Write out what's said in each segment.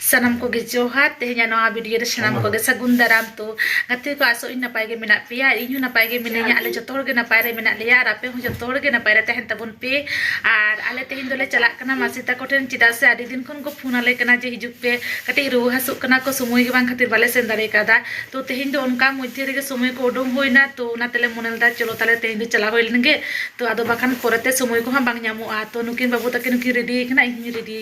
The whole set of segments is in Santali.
ᱥᱟᱱᱟᱢ ᱠᱚᱜᱮ ᱡᱚᱦᱟᱨ ᱛᱮᱦᱮᱧᱟᱜ ᱱᱚᱣᱟ ᱵᱷᱤᱰᱤᱭᱳ ᱨᱮ ᱥᱟᱱᱟᱢ ᱠᱚᱜᱮ ᱥᱟᱹᱜᱩᱱ ᱫᱟᱨᱟᱢ ᱛᱚ ᱜᱟᱛᱮ ᱠᱚ ᱟᱥᱚᱜ ᱤᱧ ᱱᱟᱯᱟᱭ ᱜᱮ ᱢᱮᱱᱟᱜ ᱯᱮᱭᱟ ᱟᱨ ᱤᱧ ᱦᱚᱸ ᱱᱟᱯᱟᱭ ᱜᱮ ᱢᱤᱱᱟᱹᱧᱟ ᱟᱞᱮ ᱡᱚᱛᱚ ᱦᱚᱲ ᱜᱮ ᱱᱟᱯᱟᱭ ᱨᱮ ᱢᱮᱱᱟᱜ ᱞᱮᱭᱟ ᱟᱨ ᱟᱯᱮ ᱦᱚᱸ ᱡᱚᱛᱚ ᱦᱚᱲ ᱜᱮ ᱱᱟᱯᱟᱭ ᱨᱮ ᱛᱟᱦᱮᱱ ᱛᱟᱵᱚᱱ ᱯᱮ ᱟᱨ ᱟᱞᱮ ᱛᱮᱦᱮᱧ ᱫᱚᱞᱮ ᱪᱟᱞᱟᱜ ᱠᱟᱱᱟ ᱢᱟᱹᱥᱤ ᱛᱟᱠᱚ ᱴᱷᱮᱱ ᱪᱮᱫᱟᱜ ᱥᱮ ᱟᱹᱰᱤ ᱫᱤᱱ ᱠᱷᱚᱱ ᱠᱚ ᱯᱷᱳᱱ ᱟᱞᱮ ᱠᱟᱱᱟ ᱡᱮ ᱦᱤᱡᱩᱜ ᱯᱮ ᱠᱟᱹᱴᱤᱡ ᱨᱩᱣᱟᱹ ᱦᱟᱹᱥᱩᱜ ᱠᱟᱱᱟ ᱠᱚ ᱥᱚᱢᱚᱭ ᱜᱮ ᱵᱟᱝ ᱠᱷᱟᱹᱛᱤᱨ ᱵᱟᱞᱮ ᱥᱮᱱ ᱫᱟᱲᱮ ᱠᱟᱣᱫᱟ ᱛᱚ ᱛᱮᱦᱮᱧ ᱫᱚ ᱚᱱᱠᱟ ᱢᱚᱫᱽᱫᱷᱮ ᱨᱮᱜᱮ ᱥᱚᱢᱚᱭ ᱠᱚ ᱩᱰᱩᱝ ᱦᱩᱭᱱᱟ ᱛᱚ ᱚᱱᱟ ᱛᱮᱞᱮ ᱢᱚᱱᱮ ᱞᱮᱫᱟ ᱪᱚᱞᱚ ᱛᱟᱦᱞᱮ ᱛᱮᱦᱮᱧ ᱫᱚ ᱪᱟᱞᱟᱣ ᱦᱩᱭ ᱞᱮᱱ ᱜᱮ ᱛᱚ ᱟᱫᱚ ᱵᱟᱠᱷᱟᱱ ᱯᱚᱨᱮᱛᱮ ᱥᱚᱢᱚᱭ ᱠᱚᱦᱚᱸ ᱵᱟᱝ ᱧᱟᱢᱚᱜᱼᱟ ᱛᱚ ᱱᱩᱠᱤᱱ ᱵᱟᱹᱵᱩ ᱛᱟᱹᱠᱤᱱ ᱦᱚᱸᱠᱤᱱ ᱨᱮᱰᱤ ᱟᱠᱟᱱᱟ ᱤᱧ ᱦᱚᱸᱧ ᱨᱮᱰᱤ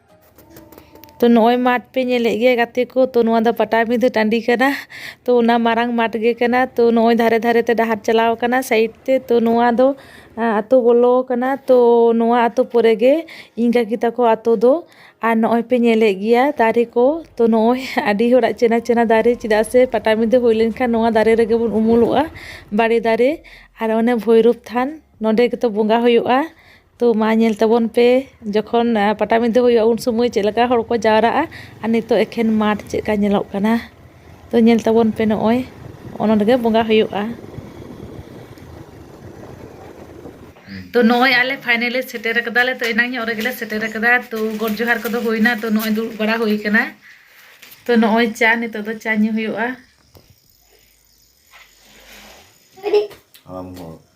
ᱛᱚ ᱱᱚᱜᱼᱚᱭ ᱢᱟᱴᱷ ᱯᱮ ᱧᱮᱞᱮᱫ ᱜᱮᱭᱟ ᱜᱟᱛᱮ ᱠᱚ ᱛᱚ ᱱᱚᱣᱟ ᱫᱚ ᱯᱟᱴᱟᱵᱤᱸᱫᱟᱹ ᱴᱟᱺᱰᱤ ᱠᱟᱱᱟ ᱛᱚ ᱚᱱᱟ ᱢᱟᱨᱟᱝ ᱢᱟᱴᱷ ᱜᱮ ᱠᱟᱱᱟ ᱛᱚ ᱱᱚᱜᱼᱚᱭ ᱫᱷᱟᱨᱮ ᱫᱷᱟᱨᱮ ᱛᱮ ᱰᱟᱦᱟᱨ ᱪᱟᱞᱟᱣ ᱠᱟᱱᱟ ᱥᱟᱭᱤᱰ ᱛᱮ ᱛᱚ ᱱᱚᱣᱟ ᱫᱚ ᱟᱛᱳ ᱵᱚᱞᱚᱣ ᱠᱟᱱᱟ ᱛᱚ ᱱᱚᱣᱟ ᱟᱛᱳ ᱯᱚᱨᱮ ᱜᱮ ᱤᱧ ᱠᱟᱠᱤ ᱛᱟᱠᱚ ᱟᱛᱳ ᱫᱚ ᱟᱨ ᱱᱚᱜᱼᱚᱭ ᱯᱮ ᱧᱮᱞᱮᱫ ᱜᱮᱭᱟ ᱫᱟᱨᱮ ᱠᱚ ᱛᱚ ᱱᱚᱜᱼᱚᱭ ᱟᱹᱰᱤ ᱦᱚᱲᱟᱜ ᱪᱮᱱᱟ ᱪᱮᱱᱟ ᱫᱟᱨᱮ ᱪᱮᱫᱟᱜ ᱥᱮ ᱯᱟᱴᱟᱵᱤᱸᱫᱟᱹ ᱦᱩᱭ ᱞᱮᱱᱠᱷᱟᱱ ᱱᱚᱣᱟ ᱫᱟᱨᱮ ᱨᱮᱜᱮ ᱵᱚᱱ ᱩᱢᱩᱞᱚᱜᱼᱟ ᱵᱟᱲᱮ ᱫᱟᱨᱮ ᱟᱨ ᱚᱱᱮ ᱵᱷᱳᱭᱨᱳᱵ ᱛᱷᱟᱱ ᱱᱚᱸᱰᱮ ᱜᱮᱛᱚ ᱵᱚᱸᱜᱟ ᱦᱩᱭᱩᱜᱼᱟ ᱛᱚ ᱢᱟ ᱧᱮᱞ ᱛᱟᱵᱚᱱ ᱯᱮ ᱡᱚᱠᱷᱚᱱ ᱯᱟᱴᱟᱵᱤᱸᱫᱟᱹ ᱦᱩᱭᱩᱜᱼᱟ ᱩᱱ ᱥᱚᱢᱚᱭ ᱪᱮᱫ ᱞᱮᱠᱟ ᱦᱚᱲ ᱠᱚ ᱡᱟᱣᱨᱟᱜᱼᱟ ᱟᱨ ᱱᱤᱛᱚᱜ ᱮᱠᱷᱮᱱ ᱢᱟᱴᱷ ᱪᱮᱫ ᱞᱮᱠᱟ ᱧᱮᱞᱚᱜ ᱠᱟᱱᱟ ᱛᱚ ᱧᱮᱞ ᱛᱟᱵᱚᱱ ᱯᱮ ᱱᱚᱜᱼᱚᱭ ᱚᱱᱟ ᱨᱮᱜᱮ ᱵᱚᱸᱜᱟ ᱦᱩᱭᱩᱜᱼᱟ ᱛᱚ ᱱᱚᱜᱼᱚᱭ ᱟᱞᱮ ᱯᱷᱟᱭᱱᱮᱞᱤ ᱥᱮᱴᱮᱨ ᱟᱠᱟᱫᱟᱞᱮ ᱛᱚ ᱮᱱᱟᱝ ᱧᱚᱜ ᱨᱮᱜᱮᱞᱮ ᱥᱮᱴᱮᱨ ᱟᱠᱟᱫᱟ ᱛᱚ ᱜᱚᱰ ᱡᱚᱦᱟᱨ ᱠᱚᱫᱚ ᱦᱩᱭᱱᱟ ᱛᱚ ᱱᱚᱜᱼᱚᱭ ᱫᱩᱲᱩᱵ ᱵᱟᱲᱟ ᱦᱩᱭ ᱟᱠᱟᱱᱟ ᱛᱚ ᱱᱚᱜᱼᱚᱭ ᱪᱟ ᱱᱤᱛᱚᱜ ᱫᱚ ᱪᱟ ᱧᱩ ᱦᱩᱭᱩᱜᱼᱟ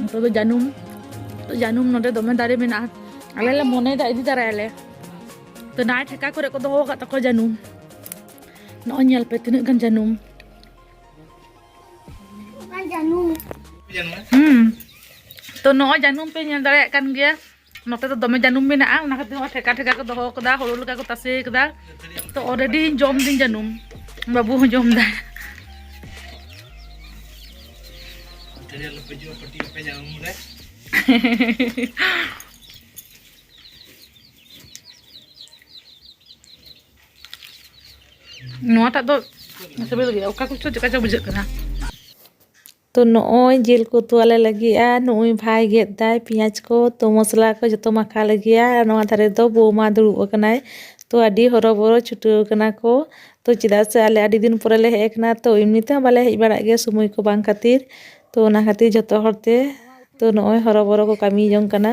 ᱱᱤᱛᱚᱜ ᱫᱚ ᱡᱟᱹᱱᱩᱢ ᱛᱚ ᱡᱟᱹᱱᱩᱢ ᱱᱚᱰᱮ ᱫᱚᱢᱮ ᱫᱟᱨᱮ ᱢᱮᱱᱟᱜᱼᱟ ᱟᱞᱮ ᱞᱮ ᱢᱚᱱᱮᱭᱮᱫᱟ ᱤᱫᱤ ᱛᱟᱨᱟᱭᱟᱞᱮ ᱛᱚ ᱱᱟᱭ ᱴᱷᱮᱠᱟ ᱠᱚᱨᱮ ᱠᱚ ᱫᱚᱦᱚ ᱟᱠᱟᱫ ᱛᱟᱠᱚᱣᱟ ᱡᱟᱹᱱᱩᱢ ᱱᱚᱜᱼᱚᱭ ᱧᱮᱞ ᱯᱮ ᱛᱤᱱᱟᱹᱜ ᱜᱟᱱ ᱡᱟᱹᱱᱩᱢ ᱦᱩᱸ ᱛᱚ ᱱᱚᱜᱼᱚᱭ ᱡᱟᱹᱱᱩᱢ ᱯᱮ ᱧᱮᱞ ᱫᱟᱲᱮᱭᱟᱜ ᱠᱟᱱ ᱜᱮᱭᱟ ᱱᱚᱛᱮ ᱫᱚ ᱫᱚᱢᱮ ᱡᱟᱹᱱᱩᱢ ᱢᱮᱱᱟᱜᱼᱟ ᱚᱱᱟ ᱠᱷᱟᱹᱛᱤᱨ ᱦᱚᱸ ᱴᱷᱮᱠᱟ ᱴᱷᱮᱠᱟ ᱠᱚ ᱫᱚᱦᱚ ᱟᱠᱟᱫᱟ ᱦᱳᱲᱳ ᱞᱮᱠᱟ ᱠᱚ ᱛᱟᱥᱮ ᱟᱠᱟᱫᱟ ᱛᱚ ᱚᱞᱨᱮᱰᱤ ᱡᱚᱢ ᱫᱤᱧ ᱡᱟᱹᱱᱩᱢ ᱵᱟᱹᱵᱩ ᱦᱚᱸ ᱡᱚᱢ ᱫᱟᱭ ᱱᱚᱣᱟᱴᱟᱜ ᱫᱚ ᱥᱤᱵᱤᱞ ᱜᱮᱭᱟ ᱚᱠᱟ ᱠᱚᱪᱚ ᱪᱮᱠᱟ ᱪᱚ ᱵᱩᱡᱷᱟᱹᱜ ᱠᱟᱱᱟ ᱛᱚ ᱱᱚᱜᱼᱚᱭ ᱡᱤᱞ ᱠᱚ ᱩᱛᱩ ᱟᱞᱮ ᱞᱟᱹᱜᱤᱫᱼᱟ ᱱᱩᱜᱼᱩᱭ ᱵᱷᱟᱭ ᱜᱮᱫ ᱮᱫᱟᱭ ᱯᱮᱸᱭᱟᱡᱽ ᱠᱚ ᱛᱚ ᱢᱚᱥᱞᱟ ᱠᱚ ᱡᱚᱛᱚ ᱢᱟᱠᱷᱟᱣ ᱟᱞᱮ ᱜᱮᱭᱟ ᱟᱨ ᱱᱚᱣᱟ ᱫᱷᱟᱨᱮ ᱫᱚ ᱵᱳᱣᱢᱟ ᱫᱩᱲᱩᱵ ᱟᱠᱟᱱᱟᱭ ᱛᱚ ᱟᱹᱰᱤ ᱦᱚᱨᱚ ᱵᱚᱨᱚ ᱪᱷᱩᱴᱟᱹᱣ ᱟᱠᱟᱱᱟ ᱠᱚ ᱛᱚ ᱪᱮᱫᱟᱜ ᱥᱮ ᱟᱞᱮ ᱟᱹᱰᱤ ᱫᱤᱱ ᱯᱚᱨᱮ ᱞᱮ ᱦᱮᱡ ᱟᱠᱟᱱᱟ ᱛᱚ ᱮᱢᱱᱤ ᱛᱮᱦᱚᱸ ᱵᱟᱞᱮ ᱦᱮᱡ ᱵᱟᱲᱟᱜ ᱜᱮᱭᱟ ᱥᱚᱢᱚᱭ ᱠᱚ ᱵᱟᱝ ᱠᱷᱟᱹᱛᱤᱨ ᱛᱚ ᱚᱱᱟ ᱠᱷᱟᱹᱛᱤᱨ ᱡᱚᱛᱚ ᱦᱚᱲ ᱛᱮ ᱛᱚ ᱱᱚᱜᱼᱚᱭ ᱦᱚᱨᱚ ᱵᱚᱨᱚ ᱠᱚ ᱠᱟᱹᱢᱤ ᱡᱚᱝ ᱠᱟᱱᱟ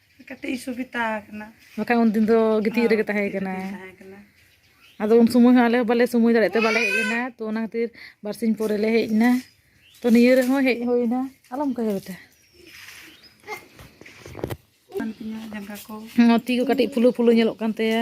ᱠᱟᱹᱴᱤᱡ ᱥᱩᱵᱤᱛᱟ ᱟᱠᱟᱱᱟ ᱵᱟᱠᱷᱟᱡ ᱩᱱ ᱫᱤᱱ ᱫᱚ ᱜᱤᱛᱤᱡ ᱨᱮᱜᱮ ᱛᱟᱦᱮᱸ ᱠᱟᱱᱟ ᱛᱟᱦᱮᱸ ᱠᱟᱱᱟ ᱟᱫᱚ ᱩᱱ ᱥᱚᱢᱚᱭ ᱦᱚᱸ ᱟᱞᱮ ᱦᱚᱸ ᱵᱟᱞᱮ ᱥᱚᱢᱚᱭ ᱫᱟᱲᱮᱭᱟᱜ ᱛᱮ ᱵᱟᱞᱮ ᱦᱮᱡ ᱞᱮᱱᱟ ᱛᱚ ᱚᱱᱟ ᱠᱷᱟᱹᱛᱤᱨ ᱵᱟᱨᱥᱤᱧ ᱯᱚᱨᱮ ᱞᱮ ᱦᱮᱡ ᱮᱱᱟ ᱛᱚ ᱱᱤᱭᱟᱹ ᱨᱮᱦᱚᱸ ᱦᱮᱡ ᱦᱩᱭᱱᱟ ᱟᱞᱚᱢ ᱠᱟᱹᱭᱟ ᱵᱮᱴᱟ ᱡᱟᱸᱜᱟ ᱠᱚ ᱛᱤ ᱠᱚ ᱠᱟᱹᱴᱤᱡ ᱯᱷᱩᱞᱩ ᱯᱷᱩᱞᱩ ᱧᱮᱞᱚᱜ ᱠᱟᱱ ᱛᱟᱭᱟ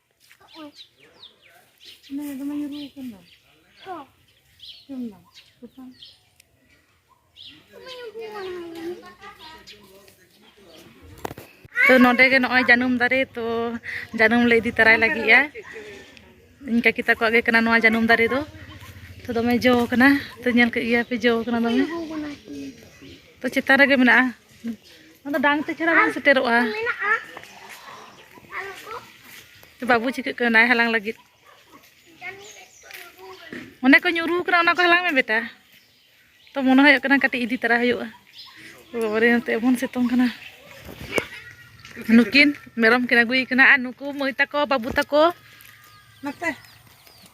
ᱛᱚ ᱱᱚᱰᱮ ᱜᱮ ᱱᱚᱜᱼᱚᱭ ᱡᱟᱹᱱᱩᱢ ᱫᱟᱨᱮ ᱛᱚ ᱡᱟᱹᱱᱩᱢ ᱞᱮ ᱤᱫᱤ ᱛᱟᱨᱟᱭ ᱞᱟᱹᱜᱤᱫᱼᱟ ᱤᱧ ᱠᱟᱹᱠᱤ ᱛᱟᱠᱚᱣᱟᱜ ᱜᱮ ᱠᱟᱱᱟ ᱱᱚᱣᱟ ᱡᱟᱹᱱᱩᱢ ᱫᱟᱨᱮ ᱫᱚ ᱛᱚ ᱫᱚᱢᱮ ᱡᱚ ᱠᱟᱱᱟ ᱛᱚ ᱧᱮᱞ ᱠᱮᱫ ᱜᱮᱭᱟ ᱯᱮ ᱡᱚ ᱠᱟᱱᱟ ᱫᱚᱢᱮ ᱛᱚ ᱪᱮᱛᱟᱱ ᱨᱮᱜᱮ ᱢᱮᱱᱟᱜᱼᱟ ᱟᱫᱚ ᱰᱟᱝ ᱛᱮ ᱪᱷᱟᱲᱟ ᱵᱟᱝ ᱥᱮᱴᱮᱨᱚᱜᱼᱟ ᱵᱟᱹᱵᱩ ᱪᱤᱠᱟᱹᱜ ᱠᱟᱱᱟᱭ ᱦᱟᱞᱟᱝ ᱞᱟᱹᱜᱤᱫ ᱚᱱᱮ ᱠᱚ ᱧᱩᱨᱩ ᱠᱟᱱᱟ ᱚᱱᱟ ᱠᱚ ᱦᱟᱞᱟᱝ ᱢᱮ ᱵᱮᱴᱟ ᱛᱚ ᱢᱚᱱᱮ ᱦᱩᱭᱩᱜ ᱠᱟᱱᱟ ᱠᱟᱹᱴᱤᱡ ᱤᱫᱤ ᱛᱟᱨᱟ ᱦᱩᱭᱩᱜᱼᱟ ᱵᱟᱵᱟᱨᱮ ᱱᱚᱛᱮ ᱮᱢᱚᱱ ᱥᱤᱛᱩᱝ ᱠᱟᱱᱟ ᱱᱩᱠᱤᱱ ᱢᱮᱨᱚᱢ ᱠᱤᱱ ᱟᱹᱜᱩᱭᱮ ᱠᱟᱱᱟ ᱟᱨ ᱱᱩᱠᱩ ᱢᱟᱹᱭ ᱛᱟᱠᱚ ᱵᱟᱹᱵᱩ ᱛᱟᱠᱚ ᱱᱚᱛᱮ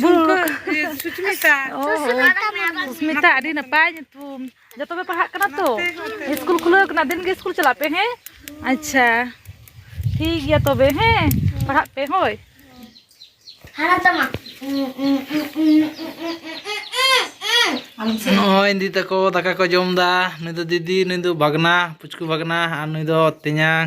ᱡᱷᱩᱢᱠᱟᱹ ᱥᱩᱪᱢᱤᱛᱟ ᱥᱩᱪᱢᱤᱛᱟ ᱟᱹᱰᱤ ᱱᱟᱯᱟᱭ ᱧᱩᱛᱩᱢ ᱡᱚᱛᱚ ᱯᱮ ᱯᱟᱲᱦᱟᱜ ᱠᱟᱱᱟ ᱛᱚ ᱥᱠᱩᱞ ᱠᱷᱩᱞᱟᱹᱣ ᱠᱟᱱᱟ ᱫᱤᱱ ᱜᱮ ᱥᱠᱩᱞ ᱪᱟᱞᱟᱜ ᱯᱮ ᱦᱮᱸ ᱟᱪᱪᱷᱟ ᱴᱷᱤᱠ ᱜᱮᱭᱟ ᱛᱚᱵᱮ ᱦᱮᱸ ᱯᱟᱲᱦᱟᱜ ᱯᱮ ᱦᱳᱭ ᱦᱟᱨᱟ ᱛᱟᱢᱟ ᱱᱚᱜᱼᱚᱭ ᱫᱤᱫᱤ ᱛᱟᱠᱚ ᱫᱟᱠᱟ ᱠᱚ ᱡᱚᱢ ᱮᱫᱟ ᱱᱩᱭ ᱫᱚ ᱫᱤᱫᱤ ᱱᱩᱭ ᱫᱚ ᱵᱷᱟᱜᱽᱱᱟ ᱯᱩᱪᱠᱩ ᱵᱷᱟᱜᱽᱱᱟ ᱟᱨ ᱱᱩᱭ ᱫᱚ ᱛᱮᱧᱟᱝ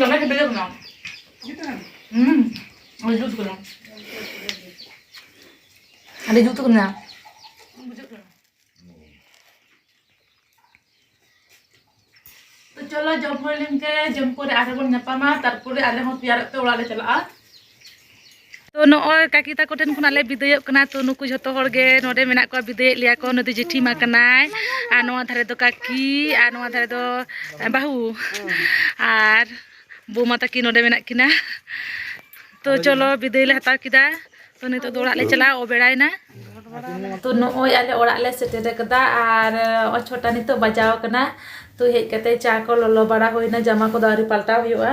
ᱫᱚᱢᱮ ᱥᱤᱵᱤᱞ ᱠᱟᱱᱟ ᱦᱩᱸ ᱟᱹᱰᱤ ᱡᱩᱛ ᱠᱟᱱᱟ ᱟᱹᱰᱤ ᱡᱩᱛ ᱠᱟᱱᱟ ᱪᱚᱞᱚ ᱡᱚᱢ ᱦᱩᱭ ᱞᱮᱱᱠᱮ ᱡᱚᱢ ᱯᱚᱨᱮ ᱟᱨᱦᱚᱸ ᱵᱚᱱ ᱧᱟᱯᱟᱢᱟ ᱛᱟᱨᱯᱚᱨᱮ ᱟᱞᱮ ᱦᱚᱸ ᱛᱮᱭᱟᱨᱚᱜ ᱛᱮ ᱚᱲᱟᱜ ᱞᱮ ᱪᱟᱞᱟᱜᱼᱟ ᱛᱚ ᱱᱚᱜᱼᱚᱭ ᱠᱟᱠᱤ ᱛᱟᱠᱚ ᱴᱷᱮᱱ ᱠᱷᱚᱱᱟᱜ ᱞᱮ ᱵᱤᱫᱟᱹᱭᱚᱜ ᱠᱟᱱᱟ ᱛᱚ ᱱᱩᱠᱩ ᱡᱷᱚᱛᱚ ᱦᱚᱲ ᱜᱮ ᱱᱚᱰᱮ ᱢᱮᱱᱟᱜ ᱠᱚᱣᱟ ᱵᱤᱫᱟᱹᱭᱮᱫ ᱞᱮᱭᱟ ᱠᱚ ᱱᱩᱭ ᱫᱚ ᱡᱮᱴᱷᱤ ᱢᱟ ᱠᱟᱱᱟᱭ ᱟᱨ ᱱᱚᱣᱟ ᱫᱷᱟᱨᱮ ᱫᱚ ᱠᱟᱠᱤ ᱟᱨ ᱱᱚᱣᱟ ᱫᱷᱟᱨᱮ ᱫᱚ ᱵᱟᱹᱦᱩ ᱟᱨ ᱵᱳᱢᱟ ᱛᱟᱹᱠᱤᱱ ᱱᱚᱰᱮ ᱢᱮᱱᱟᱜ ᱠᱤᱱᱟ ᱛᱚ ᱪᱚᱞᱚ ᱵᱤᱫᱟᱹᱭ ᱞᱮ ᱦᱟᱛᱟᱣ ᱠᱮᱫᱟ ᱛᱚ ᱱᱤᱛᱚᱜ ᱫᱚ ᱚᱲᱟᱜ ᱞᱮ ᱪᱟᱞᱟᱜᱼᱟ ᱚᱵᱮᱲᱟᱭᱮᱱᱟ ᱛᱚ ᱱᱚᱜᱼᱚᱭ ᱟᱞᱮ ᱚᱲᱟᱜ ᱞᱮ ᱥᱮᱴᱮᱨ ᱟᱠᱟᱫᱟ ᱟᱨ ᱱᱚᱜᱼᱚᱭ ᱪᱷᱚᱴᱟ ᱱᱤᱛᱚᱜ ᱵᱟᱡᱟᱣ ᱟᱠᱟᱱᱟ ᱛᱚ ᱦᱮᱡ ᱠᱟᱛᱮ ᱪᱟ ᱠᱚ ᱞᱚᱞᱚ ᱵᱟᱲᱟ ᱦᱩᱭᱱᱟ ᱡᱟᱢᱟ ᱠᱚᱫᱚ ᱟᱹᱣᱨᱤ ᱯᱟᱞᱴᱟᱣ ᱦᱩᱭᱩᱜᱼᱟ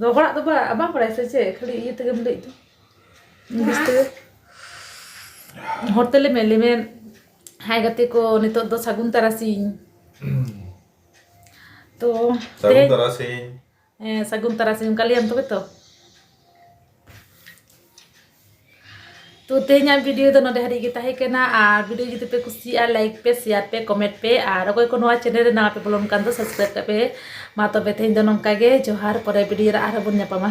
ᱫᱚ ᱦᱚᱲᱟᱜ ᱫᱚ ᱵᱟᱝ ᱵᱟᱝ ᱵᱟᱲᱟᱭ ᱥᱮ ᱪᱮᱫ ᱠᱷᱟᱹᱞᱤ ᱤᱭᱟᱹ ᱛᱮᱜᱮᱢ ᱞᱟᱹᱭ ᱫᱚ ᱤᱝᱞᱤᱥ ᱛᱮᱜᱮ ᱦᱚᱲ ᱛᱮ ᱞᱟᱹᱭ ᱢᱮ ᱞᱟᱹᱭ ᱢᱮ ᱦᱟᱭ ᱜᱟᱛᱮ ᱠᱚ ᱱᱤᱛᱚᱜ ᱫᱚ ᱥᱟᱹᱜᱩᱱ ᱛᱟᱨᱟᱥᱤᱧ ᱛᱚ ᱥᱟᱹᱜᱩᱱ ᱛᱮᱦᱮᱧ ᱛᱟᱨᱟᱥᱤᱧ ᱦᱮᱸ ᱥᱟᱹᱜᱩᱱ ᱛᱟᱨᱟᱥᱤᱧ ᱚᱱᱠᱟ ᱞᱟᱹᱭᱟᱢ ᱛᱚᱵᱮ ᱛᱚ ᱛᱚ ᱛᱮᱦᱮᱧᱟᱜ ᱵᱷᱤᱰᱤᱭᱳ ᱫᱚ ᱱᱚᱰᱮ ᱦᱟᱹᱨᱤᱡ ᱜᱮ ᱛᱟᱦᱮᱸ ᱠᱟᱱᱟ ᱟᱨ ᱵᱷᱤᱰᱤᱭᱳ ᱡᱩᱫᱤ ᱯᱮ ᱠᱩᱥᱤᱭᱟᱜᱼᱟ ᱞᱟᱭᱤᱠ ᱯᱮ ᱥᱮᱭᱟᱨ ᱯᱮ ᱠᱚᱢᱮᱱᱴ ᱯᱮ ᱟᱨ ᱚᱠᱚᱭ ᱠᱚ ᱱᱚᱣᱟ ᱪᱮᱱᱮᱞ ᱨᱮ ᱱᱟᱣᱟ ᱯᱮ ᱵᱚᱞᱚᱱ ᱠᱟᱱ ᱫᱚ ᱥᱟᱵᱥᱠᱨᱟᱭᱤᱵ ᱠᱟᱜ ᱯᱮ ᱢᱟ ᱛᱚᱵᱮ ᱛᱮᱦᱮᱧ ᱫᱚ ᱱᱚᱝᱠᱟ ᱜᱮ ᱡᱚᱦᱟᱨ ᱯᱚᱨᱮ ᱵᱷᱤᱰᱤᱭᱳ ᱨᱮ ᱟᱨᱦᱚᱸ ᱵᱚᱱ ᱧᱟᱯᱟᱢᱟ